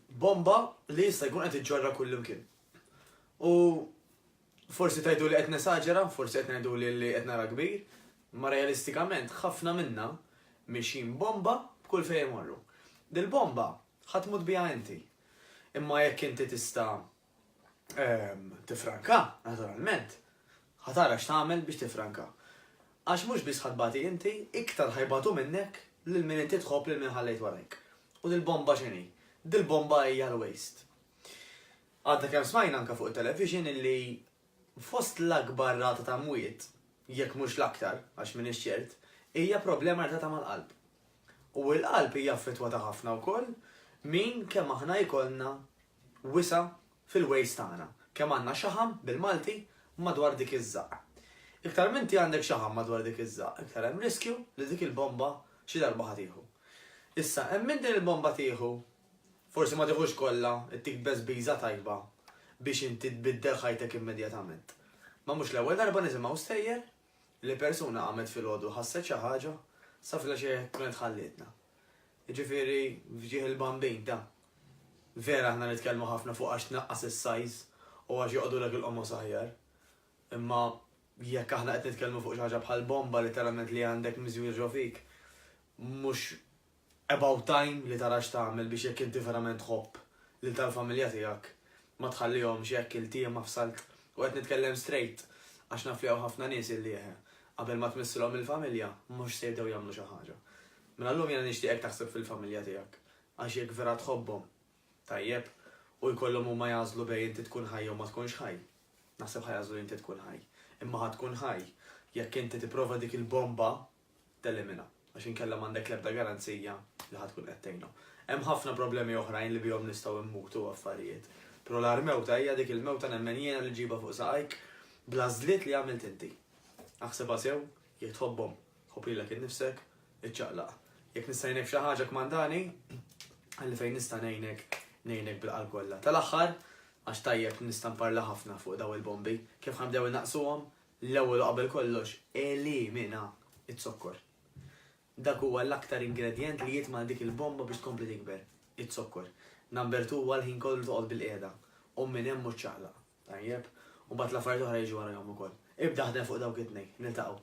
bomba li jista' jkun qed iġġorra kullimkien. U forsi tajdu li qed nesaġera, forsi qed ngħidu li qed nara kbir, ma realistikament ħafna minna mixin bomba b'kull fejn imorru. Dil-bomba ħadd mut biha inti. Imma jekk inti tista' ehm, tifranka, naturalment, ħatara x'tagħmel biex tifranka. Għax mhux biss ħadbati inti, iktar ħajbatu minnek lil min inti tħobb lil min ħallejt warajk. U dil-bomba x'inhi? Dil-bomba hija l-waste. Għadda kemm smajna anka fuq it-television illi fost l-akbar rata ta' mwiet, jekk mhux l-aktar, għax minn ċert, hija problema rata ta' mal-qalb. U l-qalb hija ta' ħafna wkoll min kemm aħna jkollna wisa' fil-ways tagħna, kemm għandna xaħam, bil-Malti, madwar dik iż-żaqq. Iktar m'inti għandek xaħam madwar dik iż-żaqq, iktar hemm riskju li dik il-bomba xi darba ħa tieħu. Issa, hemm min din il-bomba tieħu, forsi ma tieħux kollha, ittik beżbiża tajba biex inti tbiddel ħajtek immedjatament. Ma mhux l-ewwel darba nisimgħu stejjer li persuna qamet filgħodu ħasset xi ħaġa sa fil-għexija jekk kienet ħallietna. Jiġifieri f'ġieħ il-bambin, ta. Vera aħna nitkellmu ħafna fuq għax tnaqqas is-sajż u għax joqogħdulek il-qomos aħjar. Imma jekk aħna qed nitkellmu fuq xi ħaġa bħal bomba litteralment li għandek miżjur ġo fik, mhux about time li tara x'tagħmel biex jekk inti verament tħobb lil tal-familja tiegħek ma tħallihomx hekk iltiema f'salt. U qed nitkellem straight għax naf li hawn ħafna nies illi qabel ma tmissilhom il-familja mhux se jibdew jagħmlu xi ħaġa. Mela llum jiena nixtieqek taħseb fil-familja tiegħek, għax jekk vera tħobbhom, tajjeb, u jkollhom huma jagħżlu bejn inti tkun ħaj jew ma tkunx ħaj, naħseb ħa jagħżlu li inti tkun ħaj. Imma ħa tkun ħaj jekk inti tipprova dik il-bomba teliminha, għax inkella m'għandek l-ebda garanzija li ħa tkun qed tgħinhom. Hemm ħafna problemi oħrajn li bihom nistgħu mmutu u affarijiet, pero l-agħar mewta hija dik il-mewta nemmen jiena li ġġibha fuq saqajk bl-għażliet li għamilt inti. Aħsibha sew, jekk tħobbhom, Ħobrilek innifsek, iċċaqlaq. Jekk nista' ngħinek f'xi ħaġa kmandani, ħalli fejn nista' ngħinek, ngħinek bil-qalb kollha. Tal-aħħar, għax tajjeb nista' nparla ħafna fuq daw il-bombi, kif ħanbdew innaqsuhom, l-ewwel u qabel kollox elimina z-zokkor. Dak huwa l-aktar ingredjent li jitma' dik il-bomba biex tkompli tikber, iz-zokkor. Number two huwa l-ħin kollu toqgħod bil-qiegħda u minn hemm u ċċaqlaq. Tajjeb? U mbagħad l-affarijiet oħra jiġu warajhom ukoll. Ibda ħdem fuq dawk it-tnejn. Niltaqgħu.